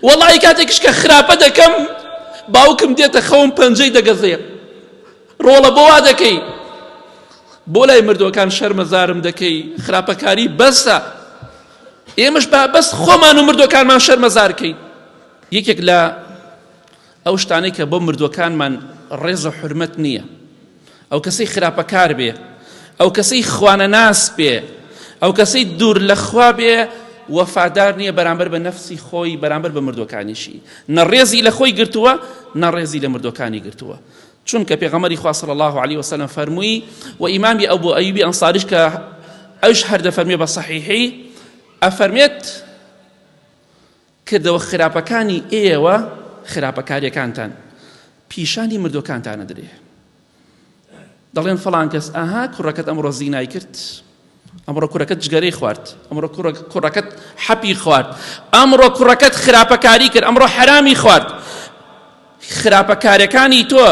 وەڵی کاتێکش کە خراپە دەکەم باوکم دێتە خەوم پەنجەی دەگەزێ ڕۆڵە بۆ وا دەکەی بۆ لای مردوەکان شەرمەزارم دەکەی خراپەکاری بەسە ئێمەش با بەس خۆمان و مردوەکانمان شەرمەزارکەین یەکێک لە ئەو شتانەی کە بۆ مردووەکانمان ڕێز و حورمەت نییە، ئەو کەسەی خراپەکار بێ، ئەو کەسەی خوانەناس بێ، ئەو کەسەی دوور لە خوا بێ، وەفادار نییە بەرامبەر بە نەفسی خۆی، بەرامبەر بە مردووەکانیشی، نە ڕێزی لە خۆی گرتووە، نە ڕێزی لە مردووەکانی گرتووە. چونکە پێغەمبەری خوا صلی اللە علیە وسلم فەرمووی، و ئیمامی ئەبو ئەیوبی ئەنصاریش کە ئەویش هەر دەفەرموێ بە صحیحی ئەفەرمێت، کردەوە خراپەکانی ئێوە خراپەکاریەکانتان پیشانی مردوەکانتان ئەدرێ دەڵێن فەڵان کەس ئاها کوڕەکەت ئەمڕۆ زینای کرد ئەمڕۆ کوڕەکەت جگەرەی خوارد ئەمڕۆ کوڕەکەت حەپی خوارد ئەمڕۆ کوڕەکەت خراپەکاری کرد ئەمڕۆ حرامی خوارد خراپەکارەکانی تۆ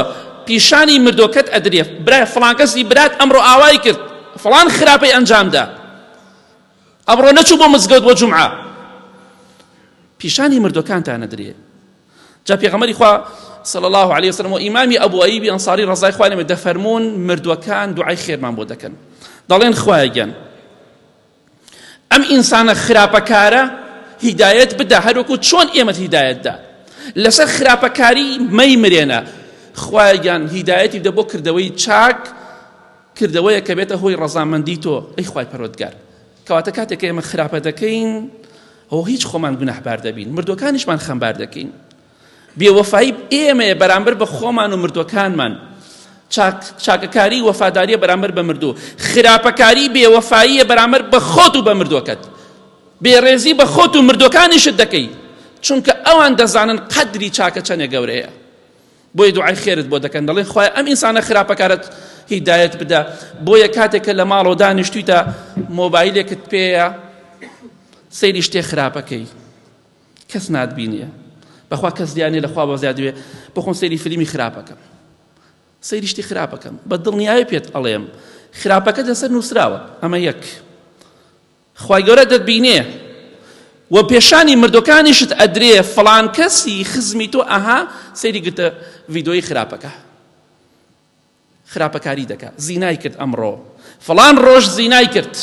پیشانی مردۆکەت ئەدرێ برای فڵانکەسی برات ئەمڕۆ ئاوای کرد فڵان خراپەی ئەنجامدا ئەمڕۆ نەچوو بۆ مزگەوت بۆ جومعە پیشانی مردوەکانتان نەدرێ جا پێغەمەری خوا صلى الله عليه وسلم و ئیمامی ئەبو ئەیبی ئەنصاری ڕزای خوای لێمە دەفەرمونون مردوەکان دوعای خێرمان بۆ دەکەن دەڵێن خوایە گیان ئەم ئینسانە خراپەکارە هیدایەت بدا هەروەکو چۆن ئێمە هیدایەتدا لەسەر خراپەکاری مەی مرێنە خوایە گیان هیدایەتی دە بۆ کردەوەی چاک کردەوەیەک کە بێتە هۆی ڕەزامەندی تۆ ئەی خوای پەروەردگار کەواتە کاتێک کە ئێمە خراپە دەکەین ئەو هیچ خۆمان گوناحبار دەبین مردوەکانیشمان خەمبار دەکەین بێوەفایی ئێمەیە بەرامبەر بە خۆمان و مردوەکانمان چاکەکاری وەفاداریە بەرامبەر بە مردوو خراپەکاری بێوەفاییە بەرامبەر بە خۆت و بە مردوەکەت بێڕێزی بە خۆت و مردوەکانیشت دەکەی چونکە ئەوان دەزانن قەدری چاکە چەنێ گەورەیە بۆیە دوعای خێرت بۆ دەکەن دەڵێن خوای ئەم ئینسانە خراپەکارت هیدایەت بدە بۆیە کاتێکە لە ماڵەوە دانیشتویتە مۆبایلێکت پێەیە سەیری شتێ خراپەکەی کەس ناتبینێ بەخوا کەس دیانێ لە خوا بەزیا دوێ بخۆن سەیری فلیمی خراپەکەم سەیری شتی خراپەکەم بە دڵنیایە پێت ئەڵێم خراپەکە لەسەر نووسراوە ئەمە یەک خوای گەورە دەتبینێ و پێشانی مردوەکانیشت ئەدرێ فڵان کەسی خزمی تۆ ئەها سەیری گرتە ڤیدۆی خراپەکە خراپەکاری دەکا زینای کرد ئەمڕۆ فڵان ڕۆژ زینای کرد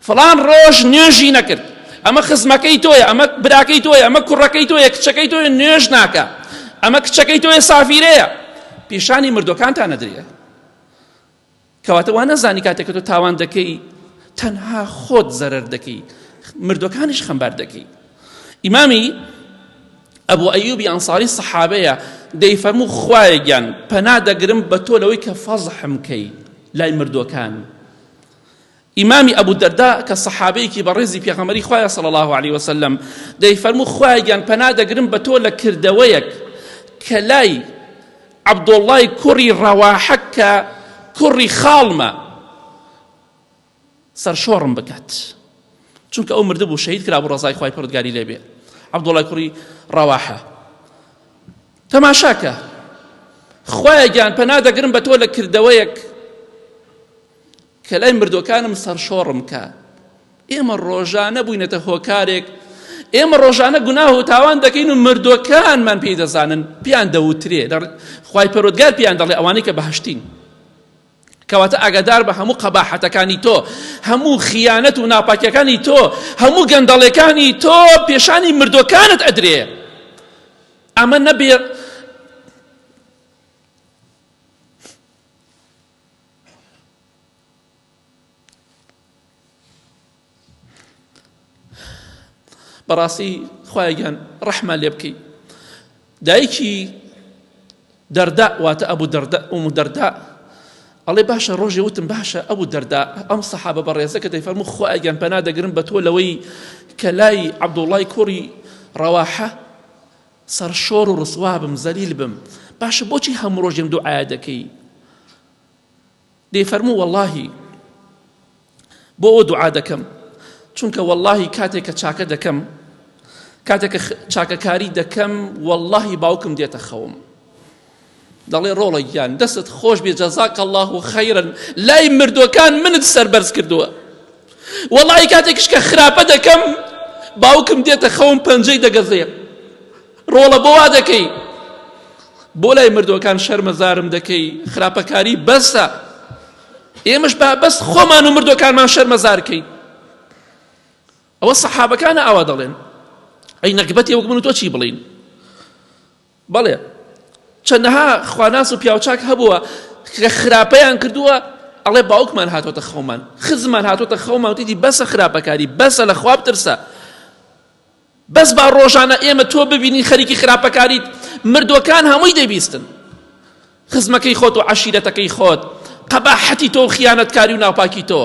فڵان ڕۆژ نوێژی نەکرد ئەمە خزمەکەی تۆیە ئەمە براکەی تۆیە ئەمە کوڕەکەی تۆیە کچەکەی تۆیە نوێژ ناکە ئەمە کچەکەی تۆیە سافیرەیە پیشانی مردوەکانتان نەدرێ کەواتە وا نەزانی کاتێک کە تۆ تاوان دەکەی تەنها خۆت زەرەر دەکەی مردوەکانیش خەمبار دەکەی ئیمامی ئەبوو ئەیوبی ئەنساری سەحابەیە دەی فەرموو خوایە گیان پەنا دەگرم بە تۆ لەوەی کە فەزحم کەی لای مردوەکان ئیمامی ئەبو دەرداء کە سەحابەیەکی بەڕێزی پێغەمبەری خوایە صلی الله علیه وسلم دەیفەرموو خوایە گیان پەنا دەگرم بە تۆ لە کردەوەیەک کە لای عەبدوڵڵای کوڕی ڕەواحە کە کوڕی خاڵمە سەرشۆڕم بکات چونکە ئەو مردبوو شەهید کرا بۆ ڕزای خوای پڕدگاری لێبێ عەبدوڵای کوڕی ڕەواحە تەماشاکە خوایە گیان پەنا دەگرم بە تۆ لە کردەوەیەک کە لای مردوەکانم سەرشۆڕم کا ئێمە ڕۆژانە بووینەتە هۆکارێک ئێمە ڕۆژانە گوناه و تاوان دەکەین و مردوەکانمان پێی دەزانن پیان دەوترێ خی پەرۆدگار پیان دەڵێ ئەوانەی کە بەهشتین کەواتە ئاگادار بە هەموو قەباحەتەکانی تۆ هەموو خیانەت و ناپاکیەکانی تۆ هەموو گەندەڵەکانی تۆ پێشانی مردوەکانت ئەدرێ ئەمە نەبێ بەڕاستی خوایگیان ڕەحمە لێ بکەی دایکی دەردا واتە ئەبوو دەردە ئەو دەردا ئەڵێ باشە ڕۆژێ وتم باشە ئەبوو دەردا ئەم سەحابە بەڕێزە کە دەیفەرمو خوایگەن پەنا دەگرن بە تۆ لەوەی کە لای عەبدوڵای کوڕی ڕەواحە سەرشۆر و ڕسوا بم زەلیل بم باشە بۆچی هەموو ڕۆژ لێم دوعایە دەکەی دەیفەرموو وەڵاهی بۆ ئەو دوعا دەکەم چونکە وەڵاهی کاتێک کە چاکە دەکەم کاتێک کە چاکەکاری دەکەم وەڵاهی باوکم دێتە خەوم دەڵێ ڕۆڵە گیان دەستت خۆش بێ جەزاک الله و خەیرن لای مردوەکان منت سەربەرز کردووە وەڵی کاتێکش کە خراپە دەکەم باوکم دێتە خەوم پەنجەی دەگەزێ ڕۆڵە بۆ وا دەکەی بۆ لای مردوەکان شەرمەزارم دەکەی خراپەکاری بەسە ئێمەش با بەس خۆمان و مردوەکانمان شەرمەزارکەین ئەوە سەحابەکانە ئاوا دەڵێن ئەی نەگبەتی وەک من و تۆ چی بڵین بەڵێ چەندەها خواناس و پیاوچاک هەبووە کە خراپەیان کردووە ئەڵێ باوکمان هاتۆتە خەومان خزمان هاتۆتە خەومان وتیدی بەسە خراپەکاری بەسە لە خواب ترسە بەس با ڕۆژانە ئێمە تۆ ببینی خەریکی خراپەکاریت مردوەکان هەمووی دەبیستن خزمەکەی خۆت و عشیرەتەکەی خۆت قەباحەتی تۆ و خیانەتکاری و ناپاکی تۆ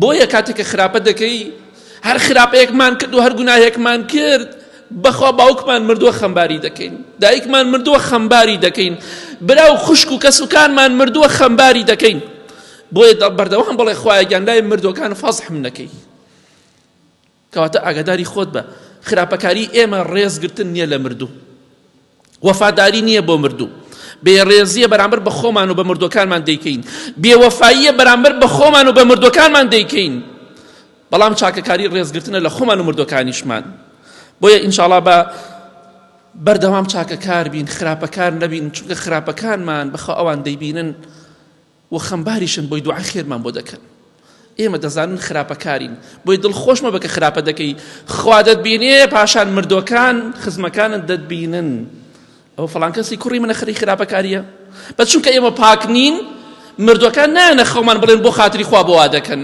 بۆیە کاتێک کە خراپە دەکەی هەر خراپەیەکمان کرد و هەر گوناهێکمان کرد بەخوا باوکمان مردووە خەمباری دەکەین دایکمان مردووە خەمباری دەکەین برا و خوشک و کەسوکانمان مردووە خەمباری دەکەین بۆیە بەردەوام بڵێ خوایەگیان لای مردوەکان فەزحم نەکەی کەواتە ئاگاداری خۆت بە خراپەکاری ئێمە ڕێز گرتن نییە لە مردوو وەفاداری نییە بۆ مردوو بێڕێزیە بەرامبەر بە خۆمان و بە مردوەکانمان دەیکەین بێوەفاییە بەرامبەر بە خۆمان و بە مردوەکانمان دەیکەین بەڵام چاکەکاری ڕێزگرتنە لە خۆمان و مردوەکانیشمان بۆیە ئینشاڵا بە بەردەوام چاکەکار بین خراپەکار نەبین چونکە خراپەکانمان بەخوا ئەوان دەیبینن و خەمباریشن بۆی دوعای خێرمان بۆ دەکەن ئێمە دەزانن خراپەکارین بۆی دڵ خۆش مەبە کە خراپە دەکەی خوا دەتبینێ پاشان مردوەکان خزمەکانت دەتبینن ئەو فلان کەسی کوڕی منە خەری خراپەکاریە بە چونکە ئێمە پاک نین مردوەکان نایەنە خەومان بڵێن بۆ خاتری خوا بۆ وا دەکەن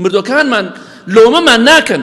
مردوەکانمان لۆمەمان ناکەن